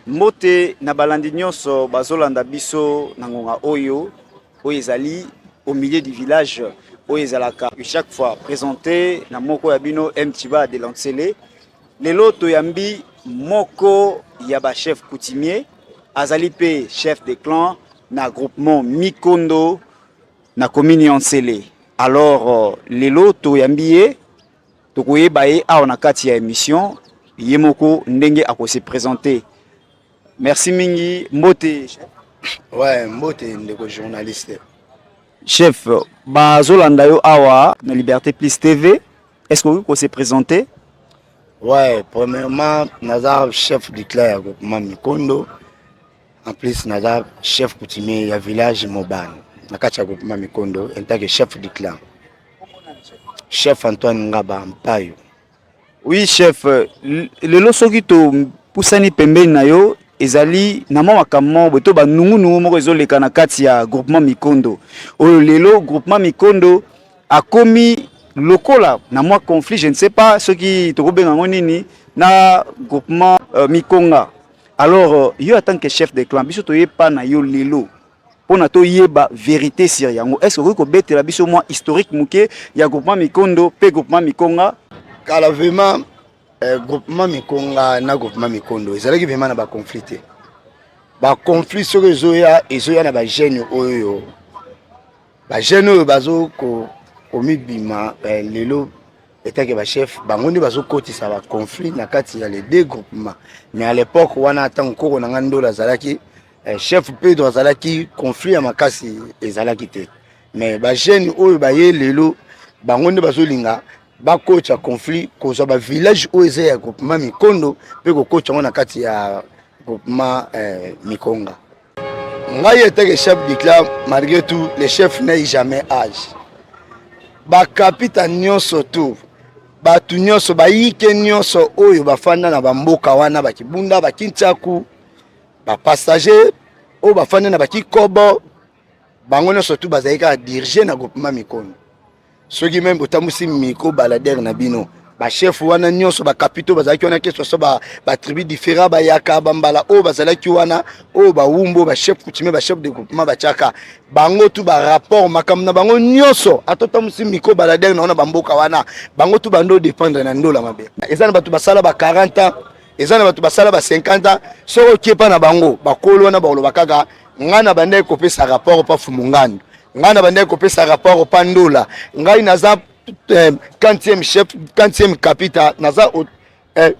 Mbote na balandi nyonso bazolanda biso na ngonga oyo oyo ezali au milieu du village oyo ezalaka chaque fois présente na moko ya bino mtiba de lancele lelo toyambi moko ya bachef coutumier azali mpe chef de clan na groupement mikondo na commune ya nsele alors euh, lelo toyambi ye tokoyeba ye awa na kati ya emission ye moko ndenge ako se presenter merci mingi mbote ouais mbote ndeko journaliste chef bazolanda yo awa na liberté plus tv est ce que okoki ko se présenter ouais premièrement naza chef du clan ya groupement mikondo En plus naza chef coutumier ya village Mobane na kati ya groupement Mikondo en tant que chef du clan. Chef Antoine Ngaba Mpayo. Oui chef, lelo soki to pusani pembeni na yo ezali na mwa makambo moko boye to banungunungu moko ezoleka na kati ya groupement Mikondo oyo lelo groupement Mikondo akomi lokola na mwa conflit je ne sais pas soki tokobenga yango nini na groupement euh, Mikonga Alors euh, yo en tant que chef de clan biso toye pa na yo lelo pona toyeba verite sur yango est ce okoki kobetela biso mwa historique moke ya groupement mikondo mpe groupement mikonga kala vraiment eh, groupement mikonga na groupement mikondo ezalaki vraiment na baconflit te baconflit soki ezoya ezoya na bagene oyo bagene oyo bazo komibima ko eh, lelo etant que ba chef bango nde bazokotisa ba conflit na kati ya les deux groupements mais à l'époque wana ntango nkoko na ngai ndolo azalaki eh, chef pedro azalaki conflit ya makasi ezalaki te mais bajeune oyo baye lelo bango nde bazolinga bakotya conflit kozwa bavillage oyo eza ya groupement mikondo mpe kokotya yango na kati ya groupement eh, mikonga ngai eteke chef du club malgré tout le chef n'ai jamais age bakapita nyonso tout bato nyonso bayike nyonso oyo bafanda na bamboka wana bakibunda bakintiaku bapassage oyo bafanda na bakikobo bango nyonso tu bazali kaka dirige na groupement mikono soki meme botambusi micro baladere na bino bachef wana nyonso bacapitaux bazalaki wana kesoso batribu différent bayaka bambala oyo bazalaki wana oyo bawumbo bachef coutumier bachef de groupement batiaka bango tu barapport makambo na bango nyonso ata otambusi micro baladere na wana bamboka wana bango tu bando dépendre na ndola mabe eza na bato basala ba 40 ans eza na bato basala ba 50 ans soki okepa na bango bakolo wana bakoloba kaka ngai nabandaki kopesa rapport pa fumungando ngai nabandaki kopesa rapport pa ndola ngai naza eh, quantième chef quantième capita naza eh,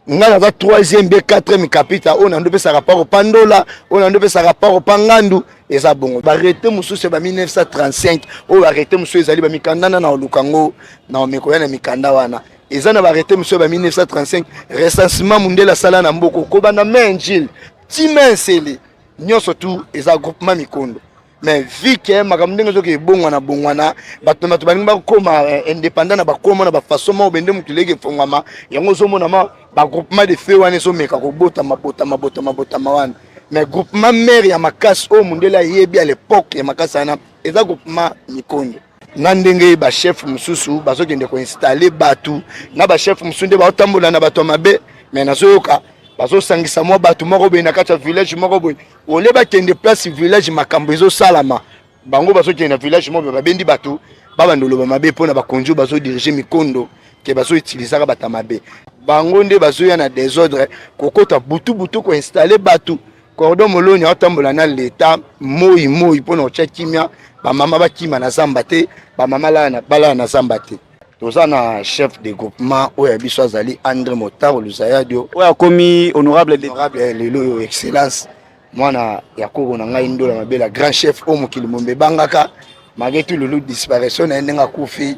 ngai naza troisième be quatrième capita oyo nando opesaka pako pa ndola oyo nando opesaka pako pa ngandu eza bongo barete mosusu ya ba 1935 oyo barete mosusu ezali bamikanda na naoluka yango na omekoya na mikanda wana eza na barete mosusu ya ba 1935 recensement mondele asala na mboko kobanda main jile tima ya nsele nyonso tu eza groupement mikondo mais vu ke makambo ndenge ezoki ebongwana bongwana bato bato balingi bakoma eh, indépendant na bakoma na bafaçon moko bende motu leki efongwama yango ozomonama bagroupement de feu wana ezomeka kobotama botama botama botama wana mais groupement mare ya makasi oyo mondele ayebi ya lepoke ya makasi wana eza groupement mikondo na ndenge bachef mosusu bazokende koinstalle bato na bachef mosusu nde baotambola na bato ya mabe me nazoyoka bazosangisa mwa bato moko boye na kati ya village moko boye ole bakende place village makambo ezosalama bango bazokende na village moko boye babendi bato babanda oloba mabe mpo na bakonzi oyo bazodirige mikondo ke bazoutilisaka bato ya mabe bango nde bazoya na desordre kokota butu butu koinstalle bato Cordon Moloni atambola na leta moi moi mpo na kotya kimia bamama bakima na zamba te bamama balala na zamba te toza na chef de groupement oyo ya biso azali andre motaro luzayadio oyo akomi honorable honorable eh, lelo oyo excellence mwana ya koko na ngai ndola mabela grand chef oyo mokili mombe ebangaka mage tululu disparition na ye ndenge akufi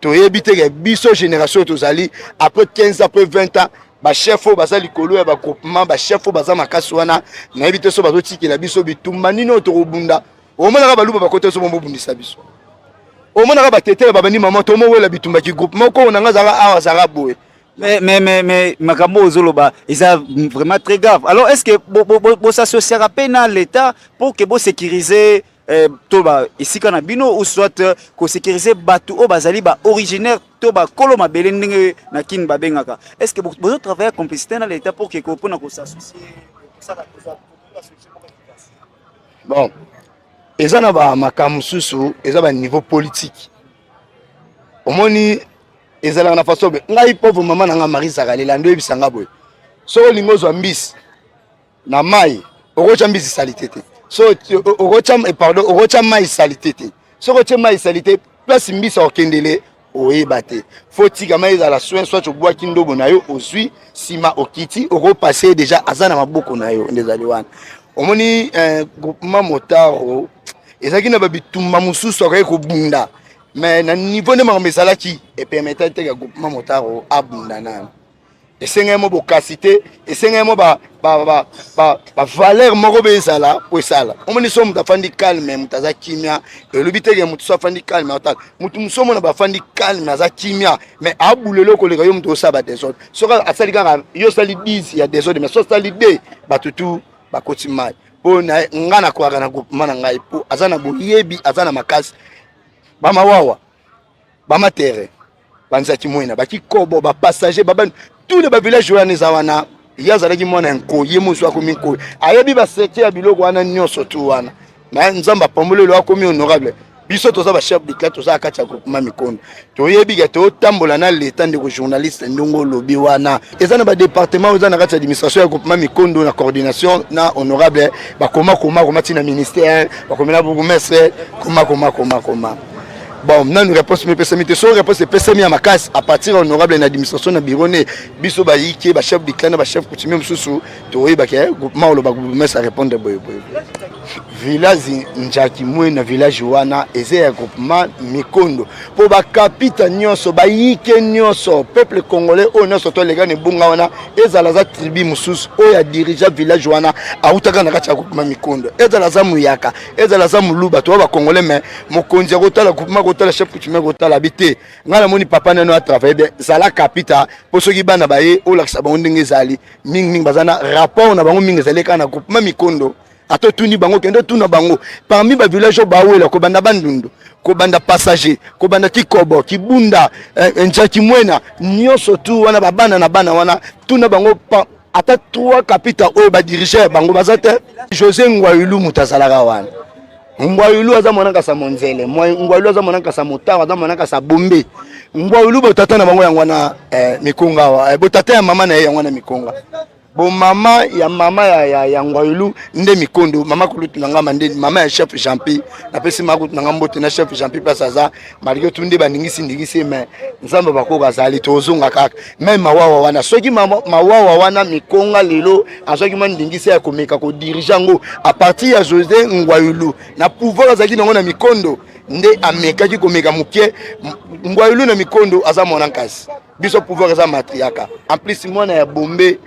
toyebi te ke biso génération oyo tozali après 15 ans après 20 ans bachef oyo baza likolo ya bagroupement bachef oyo baza makasi wana nayebi te so bazotikela biso bitumba nini oyo tokobunda omonaka baluba bakota biso bomobundisa biso omonaka batetela babandi mama tomowela bitumba kigroupement okoyo na nga azalaka awa azalaka boye mais mais mais mais makambo oyo ozoloba eza vraiment très grave alors est ce que bosasosiaka mpe na l'état pour que bosécurise eh, to ba esika na bino ou soit euh, ko sécuriser batu oyo bazali ba originaire to ba kolo mabele ndenge na kin babengaka est ce que bozo travailler complicité na l'état pour que pona ko s'associer bon eza na ba makambo mosusu eza ba niveau politique omoni ezalaka na façon be ngai pauvre mama na ngai marie zakalela nde oyebisa ngai boye soki olingi ozwa mbisi na mai okotya mbisi salite te so okotya eh, pardon okotya mai salite te soki otye mai salite place mbisi akokendele oyeba te fo tika mai ezala soin soit obwaki ndobo na yo ozwi nsima okiti okopase deja aza na maboko na yo nde ezali wana omoni eh, groupement motaro ezalaki na babitumba mosusu akokaki kobunda mais na niveau nde makambo ezalaki epermetaki te ka groupement motaro abunda nano esengeli mo bokasi te esengeli mo ba, ba, ba, ba, ba valeur moko be ezala po esala omoni so moto afandi calme moto aza kimia elobi teke moto so afandi calme otala moto mosusu omona bafandi calme aza kimia mais abula eloko oleka yo moto osala ba desordre soki asali kaka yo osali 10 ya desordre mais so osali 2 bato tu bakoti mai po na ngai nakwaka na groupement na ngai po aza na boyebi aza na makasi bamawawa bamatere banzaki mwena bakikobo bapassager baba tous les bavillage oyo wana eza wana ye azalaki mwana ya nkoi ye mosu akomi nkoi ayebi basete ya biloko wana nyonso tu wana me nzambe apambolelo akomi honorable biso toza bachef de cla toza kati ya groupement mikondo toyebi ke totambola na leta ndeko journaliste ndenge olobi wana eza na badepartement oyo eza na kati ya administration ya groupement mikondo na coordination na honorable bakomakomakoma ntina ministère bakomela bourgmestre komakomakomakoma bon nanu réponse mipesami te soki réponse epesami ya makasi à partir ya honorable na administration na bureau ne biso bayike bachef du clan na bachef coutumier mosusu toyebaka eh, groupement oloba groupement sa répondre boyeboye village njaki mwe na village wana eza ya groupement mikondo mpo bakapita nyonso bayike nyonso peuple congolais oyo nyonso tolega na ebunga wana ezala aza tribu mosusu oyo adirigea village wana autaka na kati ya groupement mikondo ezala aza moyaka ezala aza moluba toya bacongolais mais mokonzi akotala groupement akotala chef coutumier akotala abi te ngai namoni papa nano atravaille bien zala kapita mpo soki bana baye olakisa bango ndenge ezali mingimingi baza na rapport na bango mingi ezali kaka na groupement mikondo ata otuni bango kende otuna bango parmi bavillage oyo bawela kobanda bandundu kobanda passager kobanda kikobo kibunda eh, njaki mwena nyonso tu wana babana na bana wana tuna bango ata trois kapita oyo badirige bango baza te josé ngwayulu moto azalaka wana ngwayulu aza mwana kasa monzele ngwayulu aza mwana kasa motaro aza mwana kasa bombe ngwayulu botata na bango yango wana eh, mikonga awa eh, botata ya mama na ye yango wana mikonga bomama ya mama ya, ya, ya ngwayulu nde mikondo mama kulutu na ngama nde mama ya chef jampi napesi mama kulutu na nga mbote na chef jampi place aza malgré tout nde baningisi ndingisi mais nzambe bakoka azali tozonga kaka me mawawa wana soki mawawa wana mikonga lelo azwaki mwa ndingisa ya komeka kodirige yango a partir ya josé ngwayulu na pouvoir azalaki nango na mikondo nde amekaki komeka moke ngwayulu na mikondo aza mwana nkasi biso pouvoir eza matriaka en plus mwana ya bombe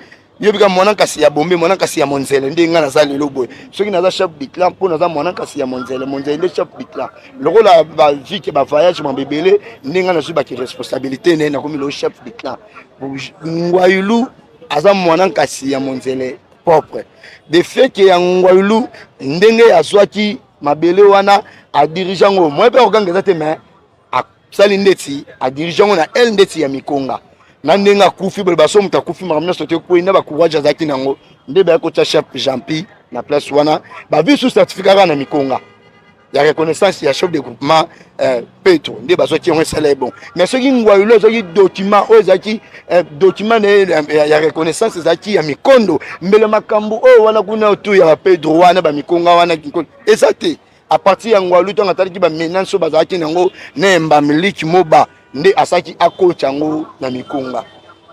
yobi kaka mwana nkasi ya bombe mwana nkasi ya monzele nde ngai naza lelo boye soki naza chef de clan mpo naza mwana nkasi ya monzele monzele nde chef de clan lokola bavike bavoyage mambo ebele nde ngai nazwi baki responsabilité naye nakomi lelo chef de clan ngwailu aza mwana nkasi ya monzele propre de fait ke ya ngwailu ndenge azwaki mabele wana adirige yango moye mpe akoganga eza te mais asali ndeti adirige yango na l ndeti ya mikonga na ndenge akufi boye baso moto akufi makambo nyonso te ekwei na bacourage azalaki na yango nde bayaki kotya chef jampi na place wana bavi su certificat kaka na mikonga ya reconnaissance ya chef de groupement euh, petro nde bazwaki yango esala ye bon mais soki ngwayulo azwaki document oyo ezalaki euh, document na ye ya reconnaissance ezalaki ya mikondo mbele makambo oyo wana kuna otu ya bapedro wana bamikonga wana eza te a partir ya ngwalu ntango atalaki bamenance oyo bazalaki na yango na embamiliki moba nde asalaki akoti yango na mikunga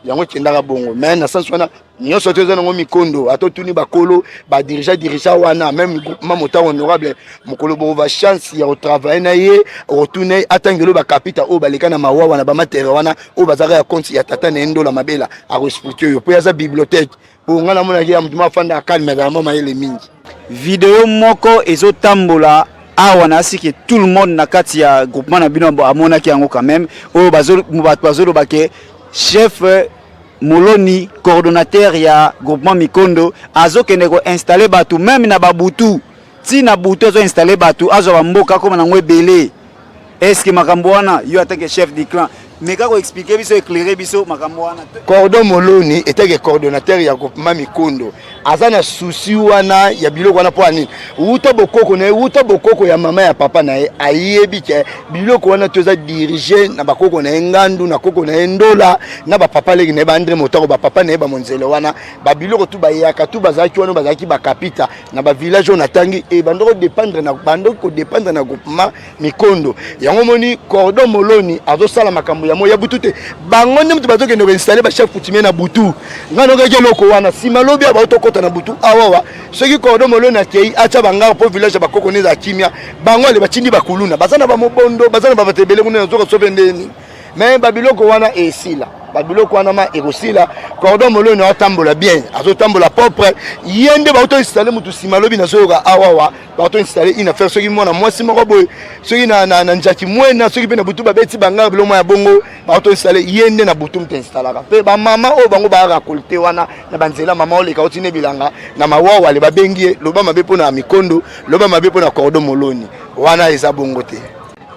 yango ekendaka bongo me na sense wana nyonso to eza nango mikondo ata otuni bakolo badirija dirija wana meme groupement motango honorable mokolo bokova chance ya kotravaille na ye okotuna ye atangelo bakapita oyo baleka na mawawa na bamatere wana oyo bazalaka ya konti ya tata na ye ndola mabela akoexplike yo mpo ye aza bibliothèque po nga namonaki ya motu moko afandaka kalme azala mwa mayele mingi video moko ezotambola awa nayasi ke tout le monde na kati ya groupement na bino amonaki yango quand même oyo bato bazoloba ke chef moloni coordonnateur ya groupement mikondo azokende koinstalle bato meme na babutu ti na butu azo installer batu azo ba mboka akoma nango ebele est-ce que makambo wana yo attaque chef du clan mais kako expliquer biso éclairer biso makambo wana cordon moloni etake coordonnateur ya groupement mikondo aza na souci wana ya biloko wana mpo ya nini wuta bokoko na ye wuta bokoko ya mama ya papa na ye ayebi ke biloko wana to eza dirige na bakoko na ye ngandu na koko na ye ndola na bapapa leki na ye baandre motako bapapa na ye bamonzele wana babiloko tu bayaka tu bazalaki wana bazalaki bakapita na ba village oyo natangi e bando kodependre na bando kodependre na groupement mikondo yango omoni cordon moloni azosala makambo ya moi ya butu te bango nde moto bazokende koinstalle bachef coutumier na butu ngai nokaki eloko wana nsima lobi abao tokɔta na butu awawa soki cordon moloni akei atya banganga mpo village ya bakoko neza kimia bango ale batindi bakuluna baza na bamobondo baza na babato ebele kuna nazoka sope ndeni mais babiloko wana esila babiloko wana ma ekosila cordon moloni atambola bien azotambola propre ye nde bauto installe motu nsima lobi nazoyoka awawa bauto installe une affaire soki mwana mwasi moko boye soki na, na, na njaki mwena soki mpe na butu babeti bangaka biloko ya bongo bauto installe ye nde na butu mpe installaka mpe bamama oyo bango baarakolte wana na banzela mama oleka oti ne bilanga na mawawale babengi ye loba mabe mpo na mikondo loba mabe mpo na cordon moloni wana eza bongo te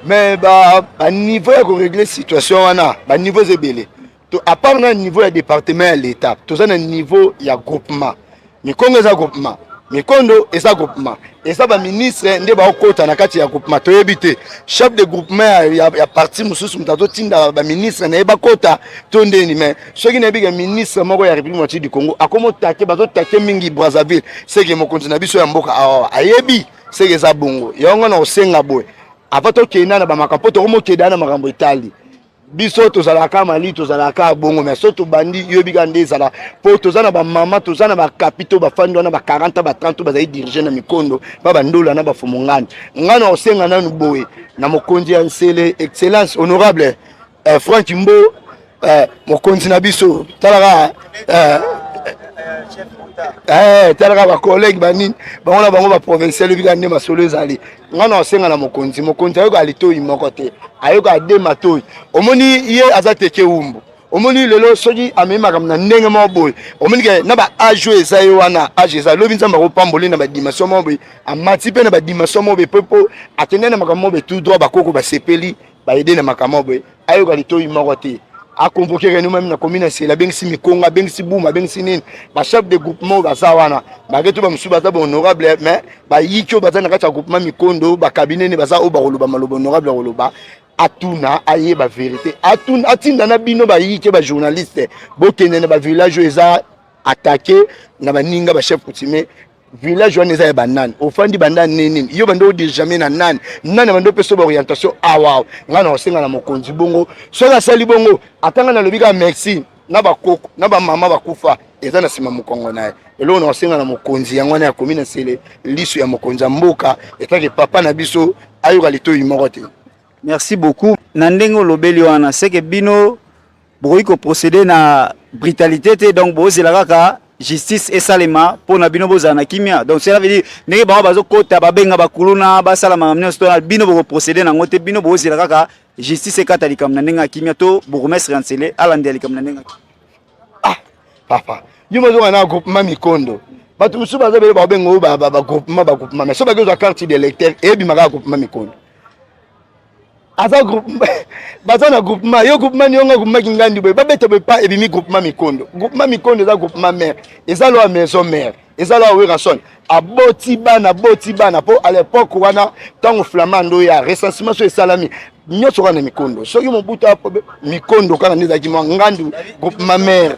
mais ba, ba niveau ya koregle situation wana ba niveau eza ebele apart na niveau ya département ya l'état toza na niveau ya groupement mikongo eza groupement mikondo eza groupement eza baministre nde baokota na kati ya groupement toyebi te chef de groupement ya, ya, ya parti mosusu moto azotinda baministre na ye bakota to ndeni mai soki nayebi ke ministre moko ya république moitié du congo akomotake bazotake mingi brazzaville seke mokonzi na biso ya mboka awa ayebi seke eza bongo yango nga na kosenga boye avant tokenda na bamakambo mpo tokomokeda na makambo etali biso tozalaka mali tozalaka bongo mais so tobandi yoyebi kaka nde ezala mpo toza na bamama toza na bakapito bafandi wana ba 40 ba 30 bazali dirige na mikondo ba bandola na bafumungani ngai na kosenga nanu boye na mokonzi ya nsele excellence honorable eh, frank mbo eh, mokonzi na biso talaka eh, eh, talaka bacollege banini bango na bango baprovincial ebi kaka nde masolo ezali ngai na osenga na mokonzi mokonzi ayoka litoi moko te ayoka de matoi omoni ye aza teke umbu omoni lelo soki amemi makambo na ndenge moko boye omoni ke na ba age oyo eza ye wana age eza lobi nzambe akopamboli na badimension moko boye amati mpe na badimension moko boye mpe mpo akendai na makambo moko boye tout droit bakoko basepeli baide na makambo boye ayoka litoyi moko te aconvoke reno meme na commune ya sela abengisi mikonga abengisi buma abengisi nini bachef de groupement oyo baza wana bake to bamosusu baza bahonorable mais bayiki oyo baza na kati ya groupement mikondo bakabine ne baza oyo bakoloba maloba honorable akoloba atuna ayeba verité atuna atinda na bino bayike bajournaliste bokende na bavillage oyo eza atake na baninga bachef coutumier village wana eza ya banani ofandi banda nini yo banda odejame na nani nani banda opesa ba orientation awa ngai na osenga na mokonzi bongo soki asali bongo ata ngai nalobi kaka merci na bakoko na bamama bakufa eza na nsima mokongo na ye eloko na osenga na mokonzi yango wana ya komi na sele liso ya mokonzi ya mboka etake papa na biso ayoka litoyi moko te merci beaucoup na ndenge olobeli wana seke bino bokoki ko proceder na brutalite te donc bozela kaka justice esalema mpo na bino bozala na kimia donc cela veut dire ndenge bango bazokota babenga bakuluna basala makambo nyonso to na bino bokoprocede nango te bino bozela kaka justice ekata likambo na ndenge ya kimia to bourgmestre ya nsele alandela likambo na ndenge ya kimia ah papa yo mazonga na groupement mikondo bato mosusu baza bele babenga oyo bagroupement bagroupement mais so bakozwa carte de lecteur eyebimaka ya groupement mikondo aza groupe baza na groupement yo groupement nionga groupement kingandi boye babeta boye pa ebimi groupement mikondo groupement mikondo eza groupement mère eza loa maison mère eza loa werrason aboti bana aboti bana mpo à l'époque wana ntango flamand oya recensement so esalami nyonso kaka na mikondo soki mobutu mikondo kaka nde ezalaki mwa ngandu groupement mère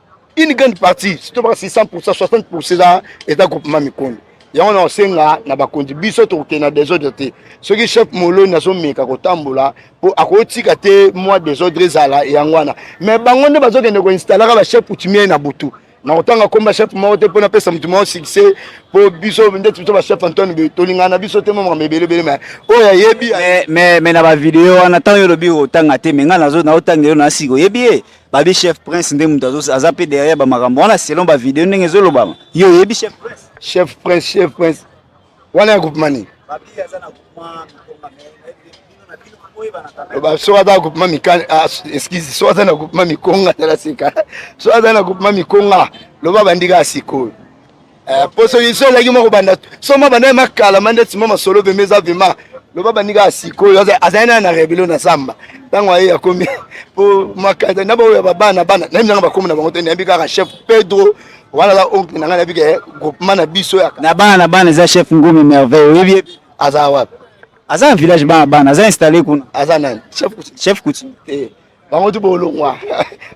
une grande partie surtout basi 100% 60% eza eza groupement mikondo yango na osenga na bakonzi biso tokokende na desordre te soki chef moloni azomeka kotambola mpo akotika te mwa desordre ezala yango wana mais bango nde bazokende koinstalaka bachef coutumier na butu na kotanga komba chef moko te mpo napesa moto moko succès mpo biso ndeti biso bachef antone boye tolingana na biso te mamaka ebelebele ma oyo ayebi me na bavideo wana ntango yo olobi kotanga te me ngai naotanga yo na sika oyebi ye babi chef prince nde moto aza mpe derrière bamakambo wana selon bavideo ndenge ezolobama yo oyebi chef prince chef prince chef prince wana ya groupema nini soki aza na groupema mikani ah, excuse soki aza na groupema mikonga tala sika soki aza na groupema mikonga loba bandika ya sikoyo Eh, poso biso ezalaki mwa kobanda so mwa bandai ma kala ma ndeti mwa masolo pembe eza pema loba bandi kaka sikoyo azali naye na rebelio na samba ntango aye akomi po makanza na baoyo ya babana bana nayebi nanga bakomi na bango te nayebi kaka chef pedro wana aza oncle na ngai nayebi ke groupement na biso ya na bana na bana eza chef ngumi merveille oyebi ye aza wapi aza na village bana bana aza installe kuna aza nani chef chef coutume te bango tu baolongwa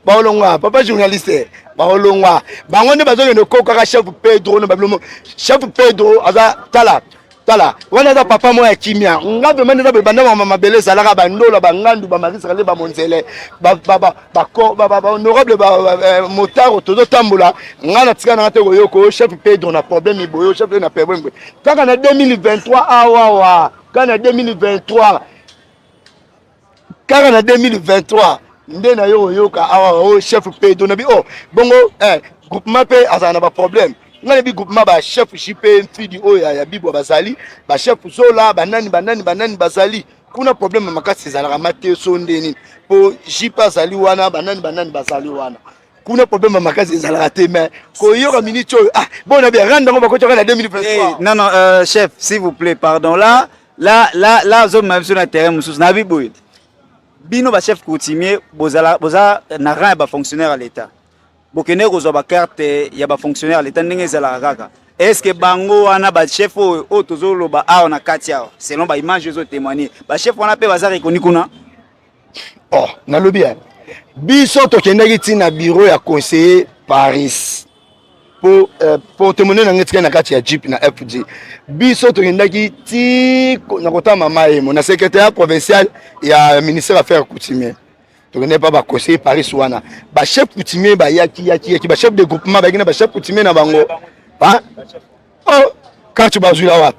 baolongwa papa journaliste baolongwa bango nde bazokende kokaka chef pedro na babilomo chef pedro aza tala tala wana aza papa moko ya kimia nga vraimen eza boye banda mama mabele ezalaka bandola bangandu bamarisakale bamonzele bahonorable eh, motaro tozotambola nga na tika nanga te koyoka oyo chef pedro na problème boye oyo chef na problème boye kaka na 2023 awawa kaka na 2023 kaka na 2023 nde nayo oyoka awa ah, o oh, chef pedo nabi o oh, bongo eh, groupement mpe azala na baproblème ngai nabi groupement bachef jp mfidi oyo oh, ya bibwa bazali bachef zola banani banani banani bazali kuna problème makasi ezalaka mateso nde nini mpo jp azali wana banani banani bazali wana kuna problème makasi ezalaka te mais koyoka minute oyo ah bon na bien rendre yango bakotaka na 2023 non non euh, chef s'il vous plaît pardon là la la la ozomema biso na terrain mosusu nabi boye bino bachef coutumier bozala boza na rang ya bafonctionnaire ya leta bokendeki kozwa bakarte ya bafonctionnaire ya leta ndenge ezalaka kaka estce bango wana bachef oyo oyo tozoloba awa na kati awa selon baimage ezotémoigne bachef wana mpe baza rekoni kuna oh, nalobi ya biso tokendaki ti na biro ya conseiller paris po eh, portemone na ngai etikali na kati ya jeep na fg biso tokendaki ti na kota mama emo na secrétariat provincial ya ministère affaire coutumier tokendaki mpa baconseiller paris wana bachef coutumier bayaki yaki yaki bachef de groupement bayaki na bachef coutumier na bango oh kacho bazwila wapi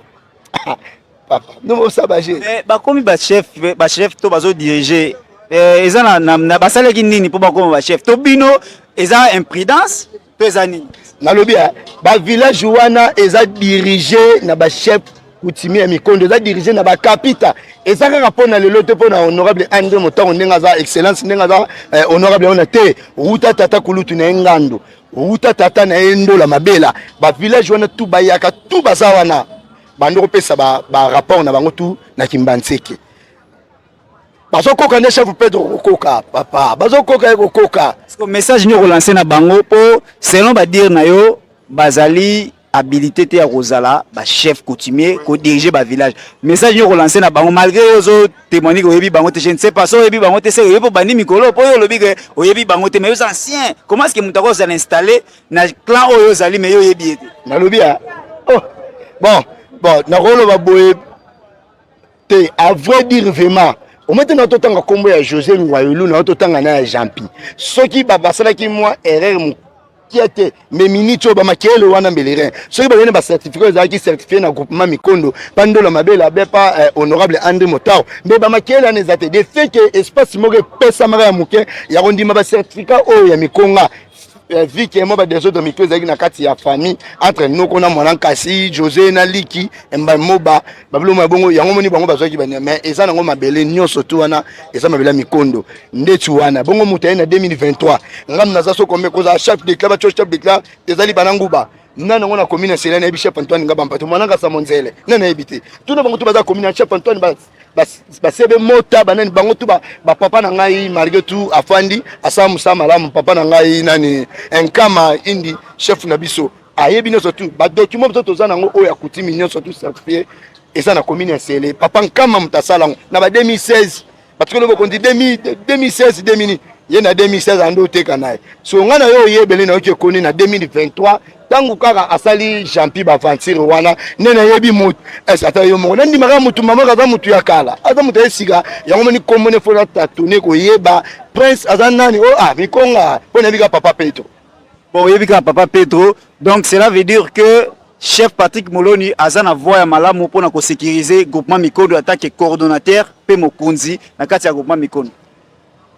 papa ndomo sabaje eh, bakomi bachef bachef to bazodirige eh, eza na, na, na basalaki nini mpo bakoma bachef to bino eza imprudence to eza nini nalobi eh, bavillage wana eza dirige na bachef kutimi ya mikondo eza dirige na bakapita eza kaka mpo na lelo te mpo na honorable andre motango ndenge aza excellence ndenge aza eh, honorable wana te wuta tata kulutu na ye ngando Outa tata na ye ndola mabela ba village wana tu bayaka tu baza wana bando kopesa ba, ba rapport na bango tu na kimbanseke bazokoka nde chef pedro kokoka papa bazokoka ye kokoka message nini okolanse na bango mpo selon badire na yo bazali habilité te ya kozala ba chef coutumier ko diriger ba village message yo kolancer na bango malgré yo zo témoigner que oyebi bango te je ne sais pas so oyebi bango te se oyebi po bandi mikolo po yo olobi que oyebi bango te mais yo ancien comment est-ce que mutu akozala installer na clan oyo ozali mais yo oyebi ye te nalobi ya oh bon bon nakoloba boye te a vrai dire vraiment omete na totanga nkombo ya josé ngwayulu na yo totanga na ya jampi soki basalaki mwa erreur mokia te me miniti oyo bamakele wana mbelerin soki bayene bacertificat ezalaki certifie na groupement mikondo bandola mabela be pa eh, honorable andré motao mbe bamakele wana eza te de fait ke espace moko epesamaka ya moke ya kondima bacertificat oyo ya mikonga Eh, vie ke mwa badesordre mito ezalaki na kati ya famille entre noko na mwana nkasi josé na liki mba moba babiloko ya bongo yango moni bango bazwaki bania mais eza nango mabele nyonso tu wana eza mabele ya mikondo ndeti wana bongo moto aye na 2023 ngambo naza sokome kozala chef de club chef de club ezali bana nguba nani yango na commune ya sela nayebi chef antoine ngaba mpate mwana nkasa monzele nani nayebi te tuna bango tu baza commune ya chef antoine basebe mota banani bango tu bapapa na ngai malgré tout afandi asala mosala malamu papa na ngai nani enkama indi chef na biso ayebi nyonso tu badocument biso toza nango oyo akutimi nyonso tu certifie eza na commune ya sele papa nkama moto asala yango na ba 2016 batikolo bokonzi 2016 demini ye na 2016 ande oteka na ye so ngai na yo oyebele nayoki ekoni na 2023 ntango kaka asali jampi baaventure wana nde nayebi motu ese ata yo moko nandimaka motu mamaka aza motu ya kala aza motu ya sika yango moni nkombo ne fo natatone koyeba prince aza nani o oh, a ah, mikonga mpo nayebi kaka papa petro bon oyebi kaka papa petro donc cela veut dire que chef patrick moloni aza na voi ya malamu mpo na kosekirize groupement mikondo atake coordonnateur mpe mokonzi na kati ya groupement mikondo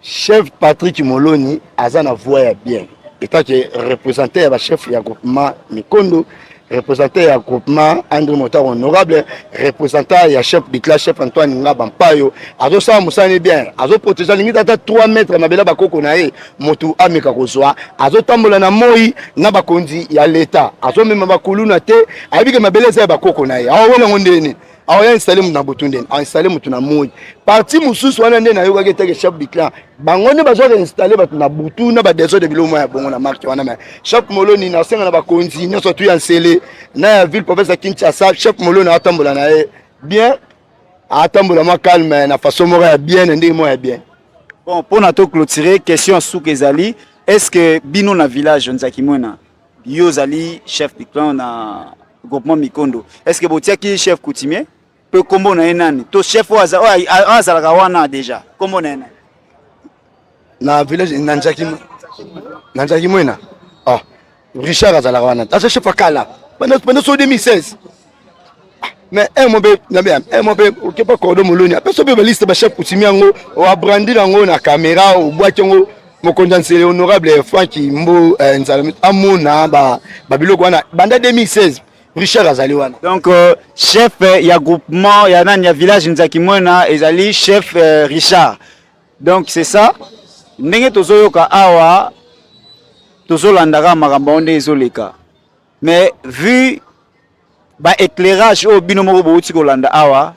Chef Patrick Moloni aza na voix ya bien etant que représentant ya ba chef ya groupement Mikondo représentant ya groupement André Motar honorable représentant ya chef de classe chef Antoine Ngaba Mpayo azosala mosala ne bien azoprotege alingi tata 3 mètre ya mabele bakoko na ye motu ameka kozwa azotambola na moi na bakonzi ya leta azomema bakuluna te ayebi ke mabele eza ya bakoko na ye awa welango ndeni aoya installe moto na butu ndeni ainstalle moto na moi parti mosusu wana nde nayokaki eteke chef du clan bango nde bazwaka installe bato na butu na badesode biloko mwa ya bongo na marke wana me chef moloni nasenga na bakonzi nyonso tu ya nsele na ya ville province ya kinshasa chef moloni atambola na ye bien atambola mwa calme na façon moko ya bien na ndenge moko ya bien bon mpo na to clôturer question ya suka ezali est ce que bino na village nzaki mwena Yo ozali chef du clan na groupement Mikondo. Est-ce que botiaki chef coutumier? Pe kombo na ye nani? To chef oyo aza- oyo a- a- azalaka wana deja. Kombo na ye nani? na village na njaki na njaki mwena ah richard azalaka wana aza chef ya kala banda banda so 2016 mais un mo mpe na bien un mo mpe okepa cordo moloni apesa mpe baliste bachef kutimi yango oabrandi na yango na caméra obwaki yango mokonzi ya nsele honorable franki mbo eh, nzala amona babiloko wana banda 2016 richard azali wana donc euh, chef euh, ya groupement ya nani ya village nzaki mwena ezali chef euh, richard donc c'est ça ndenge tozoyoka awa tozolandaka makambo yango nde ezoleka mais vu ba éclairage oyo bino moko bowuti kolanda awa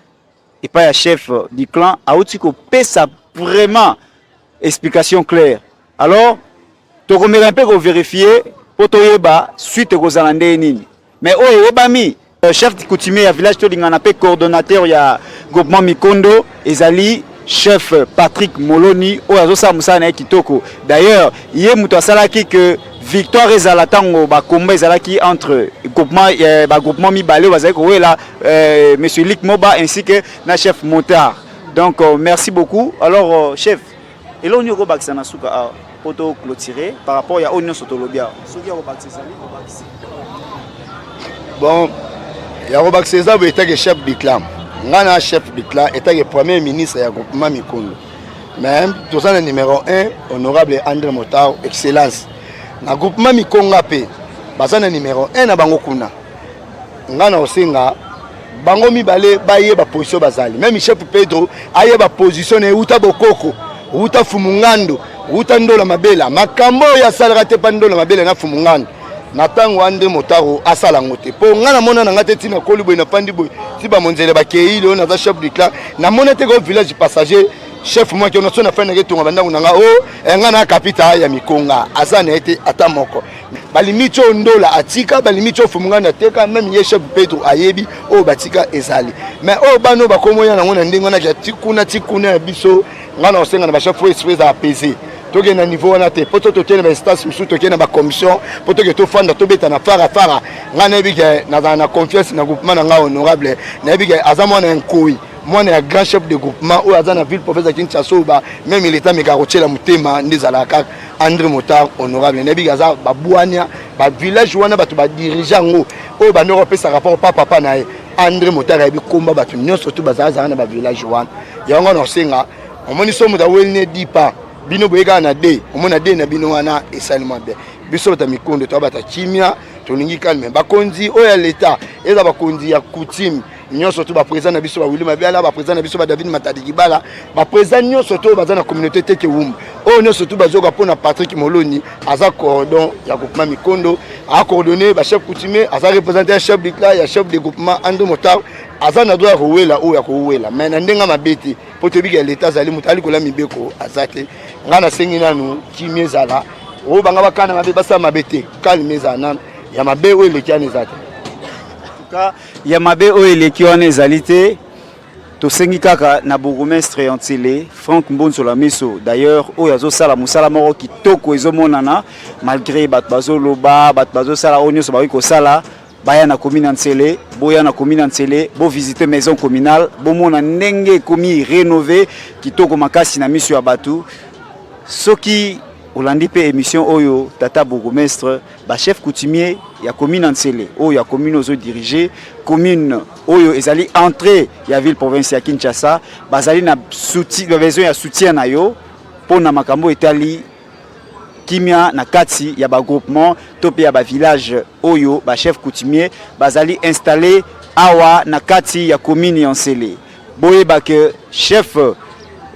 epai ya chef du clan awuti kopesa vraiment explication claire alors tokomeka mpe koverifie mpo toyeba suite ekozala ndenge nini mais oyo eyebami euh, chef coutumier ya village tolingana mpe coordonnateur ya groupement mikondo ezali chef Patrick Moloni oyo azosala mosala na ye kitoko. D'ailleurs, ye moto asalaki que victoire ezala ntango bakomba ezalaki entre groupement eh, bagroupement mibale oyo bazali kowela eh, monsieur Lick Moba ainsi que na chef Montard. Donc euh, merci beaucoup. Alors euh, chef Eloko nini okobakisa na suka awa mpo to clôturer par rapport ya oyo nyonso tolobi awa soki ya kobakisa ezali kobakisa bon ya kobakisa eza boye etake chef du clan ngai na chef du clan etake premier ministre ya groupement mikundu mais toza na numéro 1 honorable andre motar excellence na groupement mikonga mpe baza na numéro 1 na bango kuna ngai na osenga bango mibale bayeba position bazali meme chef pedro ayeba position na ye uta bokoko uta fumungando uta ndola mabela makambo oyo asalaka te mpa ndola mabela na fumungando na ntango wana nde motaro asala yango te mpo ngai namona na ngai te ntina koli boye nafandi boye ti bamonzele bakei lelo naza chef du clan namona te ko village passager chef mwaki ona so nafandi nake etonga bandako na ngai o oh, eh, ngai na kapita ya mikonga aza na ye te ata moko balimiti oyo ndola atika balimiti oyo fumungani ateka meme ye chef petro ayebi oyo batika ezali mais oyo bana oyo bakomoya nango na ndenge wana kya tikuna tikuna ya biso ngai na kosenga na bachef oyo esprit eza apese tokende na niveau wana te mpo to tokende na bainstance mosusu tokende na bacommission mpo toke tofanda tobeta na fara fara ngai nayebi ke nazala na confiance na groupement na ngai honorable nayebi ke aza mwana ya nkoi mwana ya grand chef de groupement oyo aza na ville province ya kinshasa oyo meme leta ameka kotyela motema nde ezalaka kaka andre motar honorable nayebiki aza babwania bavillage wana bato badirige yango oyo bandoko bapesa rapport pa papa na ye andre motar ayebi komba bato nyonso tu bazalazala na bavillage wana yango wana osenga omoni so moto aweli ne dipa bino boye kaka na de omona de na bino wana esalema bien biso bata mikondo toya bata kimia tolingi calme bakonzi oyo ya leta eza bakonzi ya coutume nyonso to baprésident na biso ba Willy Mabiala baprésident na biso ba David Matadi Kibala baprésident nyonso to baza na communauté teke wumbu oyo nyonso to bazoka mpo na Patrick Moloni aza coordon ya groupement Mikondo acoordonne bachef coutumier aza représente ya chef de clan ya chef de groupement Ando Motar aza na droit ya kowela oyo ya kowela mai na ndenge mabe te mpo toyebi ya leta azali moto alikola mibeko aza te ngai nasengi nanu kimia ezala oyo banga bakana mabe basala mabe te kalme ezala nanu ya mabe oyo eleki ana eza te Ya mabe oyo eleki wana ezali te. Tosengi kaka na bourgmestre ya N'Sele, Franck Mbonzola Miso d'ailleurs oyo azosala mosala moko kitoko ezomonana malgre bato bazoloba bato bazosala oyo nyonso bakoki kosala baya na commune ya N'Sele, boya na commune ya N'Sele, bo visiter maison communale, bomona ndenge ekomi renove kitoko makasi na miso ya bato. Soki olandi mpe emission oyo tata bourgmestre ba chef coutumier ya commune ya Nsele oyo ya commune ozo diriger commune oyo ezali entrée ya ville province ya Kinshasa bazali na soutien ba besoin ya soutien na yo mpo na makambo etali kimia na kati ya ba groupement to mpe ya ba village oyo ba chef coutumier bazali installer awa na kati ya commune ya Nsele boyeba que chef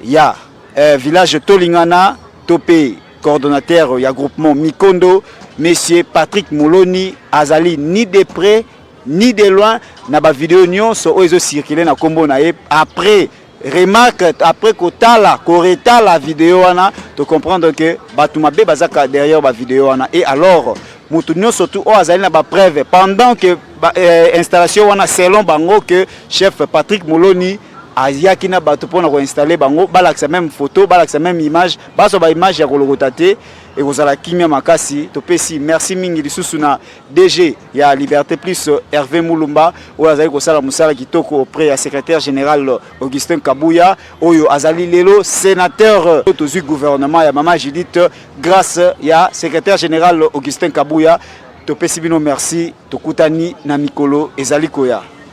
ya eh, village tolingana to mpe Coordonnateur ya groupement Mikondo, Monsieur Patrick Moloni, azali ni de près ni de loin na ba video nyonso oyo ezo circuler na kombo na ye après remarque après kotala koretala video wana to comprendre que bato mabe bazaka derrière ba video wana et alors moto nyonso tu oyo azali na ba preuve pendant que ba, euh, installation wana selon bango que chef Patrick Moloni ayaki na bato mpona ko installer bango balakisa meme photo balakisa meme image bazwa ba image ya kolokota te ekozala kimia makasi topesi merci mingi lisusu na DG ya Liberté Plus Hervé Mulumba oyo azali kosala mosala kitoko auprès ya secrétaire général Augustin Kabuya oyo azali lelo sénateur tozwi gouvernement ya mama Judith grâce ya secrétaire général Augustin Kabuya topesi bino merci tokutani na mikolo ezali koya